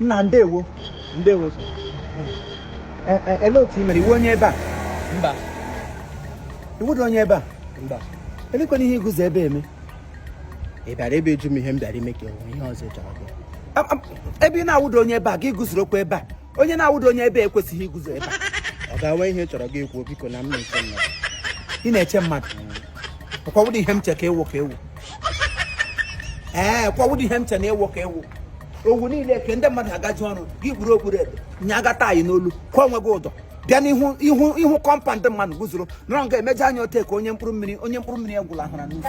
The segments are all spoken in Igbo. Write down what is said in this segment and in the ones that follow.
nna ndewo ndewo e, e, ele otu i mere ị wụ onye ebe a mba ị wụdị onye ebe a mba elekwanụ ihe i guzo ebe a eme ị bịara ebe ịjụ m ihe m bịara ime ka enwe ihe ọzọ ị chọrọ bịa ebe ị na-awụdị onye ebe a gị guzorokwa ebe a onye na-awụdị onye ebe a ekwesịghị iguzo ebe a ọ ga-enwe ihe ị chọrọ gị ekwu biko na m na-eche mmadụ ị na-eche mmadụ kwa wụdị ihe m che ka ị wụ ka ị wụ ee kwa wụdị ihe m che na ị wụ ka ị wụ owu niile ke ndị mmadụ agaji ọrụ gị gburu okpuru ebe nye aga tie n'olu kwa onwe gị ụdọ bịa n'ihu compound mmadụ guzoro nọrọ nga emeje anya ote ka onye mkpụrụ mmiri egwula ahụra n'ufu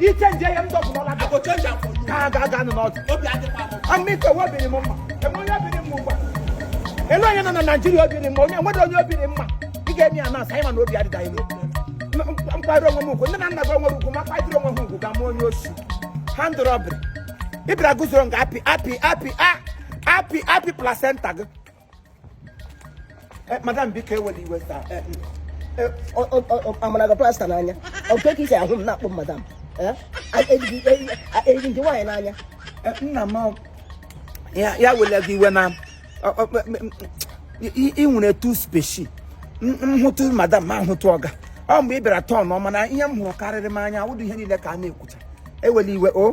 iche nje ya m dọbụrụla gị ka a ga-aga nụ n'ọdụ amịka ọ wụ obi rị mma enwe onye obi rị mma ugbu a ele onye nọ na naijiria obi rị mma onye nwere onye obi rị mma ị ga-eme ya na-asa anyị ma na obi adịda ime mkparị onwe m ugwu nne na nna gị o nwere ugwu ma kparịrị onwe ha ugwu ga mụ onye oshi armed robbery ị bịara guzoro nga apị apị apị a apị apị placenta gị Eh, madam biko ewela iwe taa eh, eh, a mara gị plaster n'anya oke ka i si ahụ m na-akpọ madam eyi m gị nwaanyị n'anya nna m ya ewele gị iwe na ị nwere two species m hụtụ madam ma m hụtụ ọga ọ mgbe ị bịara turn ọma na ihe m hụrụ karịrị m anya awụdụ ihe niile ka a na-ekwucha ewela iwe o oh.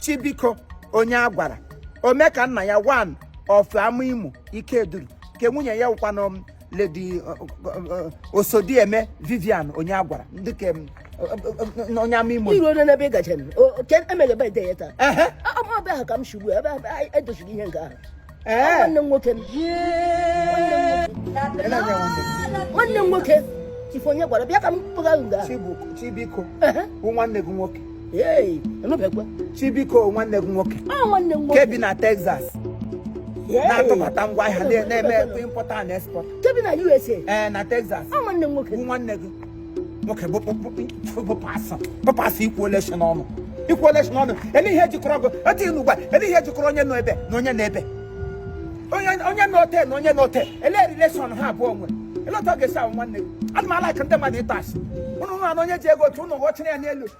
chibiko onye a gwara omeka nna ya one of amaimo ikeduru nke nwunye ya wụkwanụ lady uh, uh, uh, osodieme vivian onye a gwara ndị ka m, uh, uh, uh, onye amaimo iru onye n'ebe ị gachara o- o- ke- emeghe ebe ide ya taa Ehe. ọ bụ ebe ahụ ka m si ugbu a ebe ahụ edochiri ihe nke ahụ nwanne m nwoke nwanne m nwoke ife onye gwara bịa ka m kpụga nga chibiko bụ nwanne gị nwoke chibiko nwanne gị nwoke nke bi na Texas na-atụbata ngwa ahịa na-eme import and export na Texas nwanne gị nwoke bụpasị ikwu ole si n'ọnụ ikwu ole si n'ọnụ ele ihe jikọrọ tea na ụgba ele ihe jikọrọ onye nọ ebe na onye nọ ebe onye nọ ote na onye nọ ote ele relation ha abụọ nwe ele otu ọ ga-esi awụ nwanne gị ana m alike ndị mmadụ ịta asị ụnụ na onye ji ego otu ụnụ ghọchara ya n'elu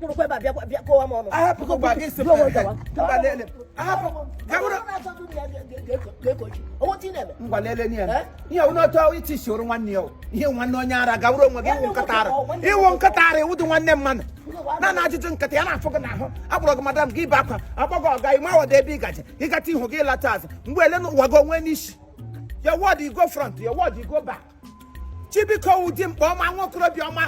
kpụrụkwa ebe a bịakwa bịa kọwa m ọnụ ahapụkwa gị si Bịa, bịa, gawa. mba lele ahapụ gawụrụ ngwa lele nye ya ihe wụ n'otu iti soro nwanne ya o. ihe nwanne onye ara gawụrụ onwe gị ị wụ nkịta ara ị wụ nkịta ara ị wụdị nwanne mmadụ na na ajụjụ nkịta ya na-afụ gị n'ahụ akpọrọ gị madam gị ebe akwa akpọ gị ọga ị mawada ebe ị gaje ị gata ihu gị lata azụ mgbe ele na ụwa gị onwe n'isi your word you go front your word you go back chibiko dimkpa ọma nwa okorobịa ọma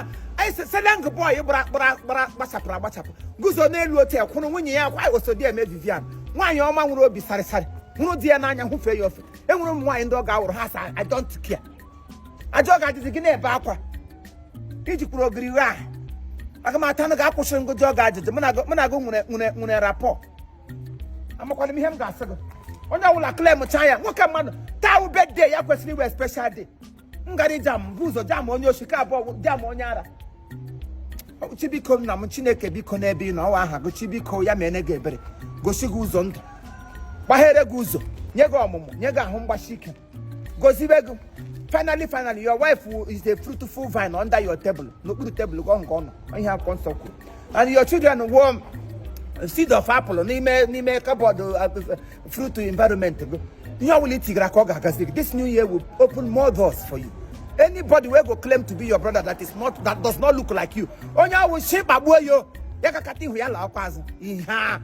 seleng bọị gbara gbara gbara gbachapụrụ agbachapụ guzo n'elu otel kwụrụ nwunye ya kwa osodieme vivian nwaanyị ọma nwere obi sarịsarị hụrụ di ya n'anya hụfee ya ofe enwere ụmụ nwaanyị ndị ọ ga-awụrụ ha sị I don't care ajọ ga-adịzi gị na-ebe akwa iji kwuru ogiri ghe ahụ aga m ata na ga-akwụsịrị ngozi ọ ga-ajụjụ mụ na gị nwere nwere nwere rapport amakwana m ihe m ga-asị gị onye ọbụla claim cha ya nwoke mmadụ taa wụ birthday ya kwesịrị ịwụ special day m gara ijam bu ụzọ jam onye oshi ka abụọ jam onye ara chibiko nna m chineke biko n'ebe ị nọ ọ wụ aha gị chibiko ya meere gị ebere gosi gị ụzọ ndụ gbaghere gị ụzọ nye gị ọmụmụ nye gị ahụ mgbasi ike gozibe gị finally finally your wife is a fruitful vine under your table n'okpuru table gị ahụ ka ọ nọ ihe akwụkwọ nsọ kwuru and your children will seed of apple n'ime n'ime cupboard uh, fruit environment gị ihe ọbụla i tigara aka ọ ga-agazi gị this new year will open more doors for you anybody wey go claim to be your brother that is not that does not look like you onye ọ wụ shi kpagbuo yo ya kakata ihu ya la ọkwa azụ ihe a